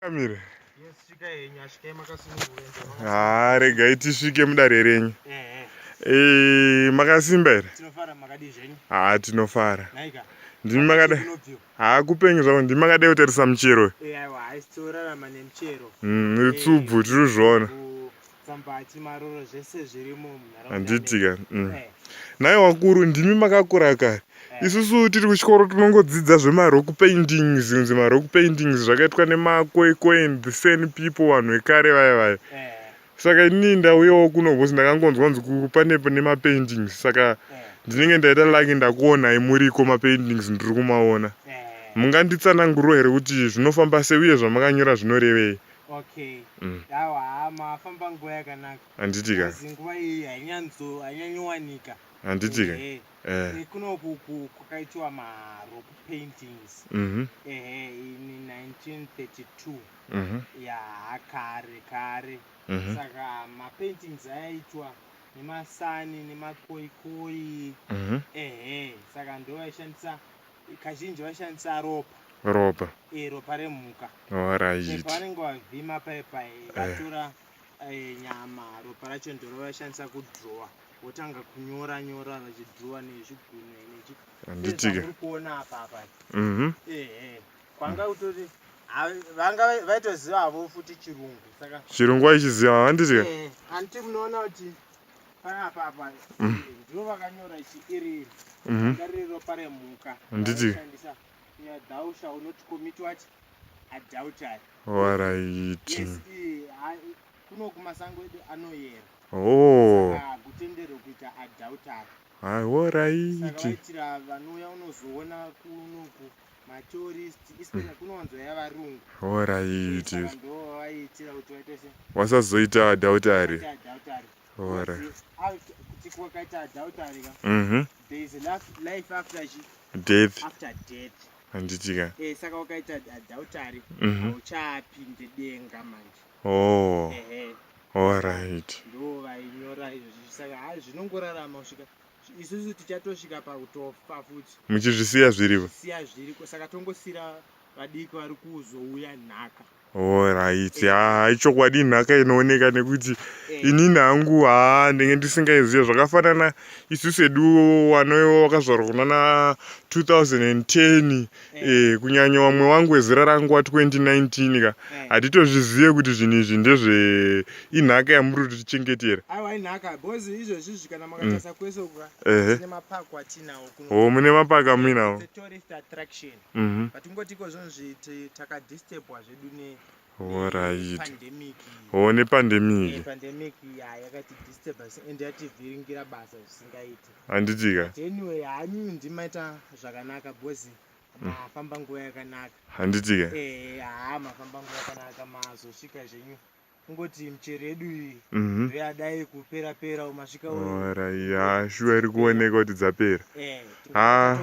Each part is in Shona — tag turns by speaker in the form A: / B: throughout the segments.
A: Kamire.
B: Haa regai
A: tisvike mudare renyu. Eh, makasimba here?
B: Haa tinofara.
A: Ndimi
B: makada.
A: Haa kupenyu zvavo ndimi makada kutarisa muchero. Eh, aiwa, haisi
B: torarama nemuchero. Mm, ritsubvu eh,
A: tiri kuzviona. Sambachi,
B: maroro zvese zvirimo munharaunda. Handiti ka. Mm.
A: Eh. Nhai wakuru ndimi makakura kare. Eh. Isusu tiri kuchikoro tinongodzidza zvemarock paintings, kunzi marock paintings zvakaitwa nemakwekwe and the same people vanhu vekare vaya vaya. Eh. Saka ini ndauyawo kuno because ndakangonzwa nzi pane nemapaintings saka eh. ndinenge ndaita lucky ndakuonai muriko mapaintings ndiri kumaona. Eh. Munganditsananguriro here kuti zvinofamba sei uye zvamakanyora zvinorevei? Okay.
B: Mm. Yawa haa mafamba nguva yakanaka. Handiti ka? Asi nguva
A: iyi
B: hainyanzo hainyanyowanika. Handiti ka?
A: Ehe. Eh. Eh, Kuno
B: ku- ku- kwakaitiwa marock paintings. Mhm. Ehe, in 1932. Mhm. Yaa kare kare. Mhm. Saka mapaintings ayaitwa nemasani nemakoikoi. Mhm. Ehe, saka ndiwo aishandisa kazhinji vaishandisa ropa ropa e, ropa remhuka vanenge vavhima paye paye eh. vatora eh, nyama ropa racho ndoro vaishandisa kudrowa votanga kunyora nyora vachidrowa nezvigunwe nechianditike kuona apapa mhm. ehe kwanga utori vanga vaitoziva havo futi chirungu saka chirungu aichiziva
A: handitike handiti munoona
B: kuti panapa apa mm. ndivo vakanyora ichi iri iri mm-hmm. ndariri ropa remhuka handiti
A: thou
B: shall not commit what adultery waraiti
A: yes, eh,
B: kuno kumasango edu anoyera oh. kutenderwe kuita adultery aiwo
A: raitiitira
B: vanouya unozoona kunoku matourist especially mm. kunowanzo yavarungu oraiti vasazoita
A: adultery Ora.
B: Mhm. There is a life after death. After
A: death.
B: Handitika. Eh,
A: saka wakaita
B: adultery. Mhm. Uchapinde denga manje. Oh. Eh, eh. All right.
A: Ndo vainyora
B: izvo saka ha zvinongorarama kusvika isusu tichatosvika pakutofa futi. Muchizvisiya zviriko.
A: Siya zviriko saka
B: tongosira vadiki vari kuzouya nhaka. Horaiti,
A: haa ichokwadi inhaka inooneka nekuti eh. inini hangu haa ndenge ndisingaizive zvakafanana isu sedu wanoiwa wakazvarwa kunana 2010 eh. eh, kunyanya wamwe wangu wezera rangu wa 2019 ka eh. hatitozvizive kuti zvinhu izvi ndezve inhaka yamuri kuti tichengetera
B: ho mune mapaka muinawo Mhm. but ungoti ikozvino zviti takadisturbwa zvedu ne Alright.
A: pandemic Oh, nepandemic. pandemic ya yakati
B: disturba and yativhiringira basa zvisingaiti Handitika. But
A: anyway hanyu
B: ndimaita zvakanaka because mafamba nguva yakanaka Handitika. eh
A: haa mafamba
B: nguva yakanaka mazosvika zvenyu kungoti michero yedu iyi mhm. yadai kupera pera umasvika ya
A: shuwa iri kuoneka kuti dzapera eh, ah.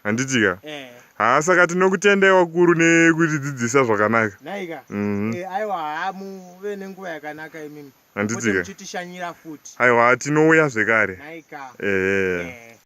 B: handiti ka
A: eh. haa ah, saka tinokutendai wakuru nekutidzidzisa zvakanaka naika mhm.
B: eh, aiwa haa muve nenguva yakanaka imimi handiti ka aiwa
A: tinouya
B: zvekare
A: ehe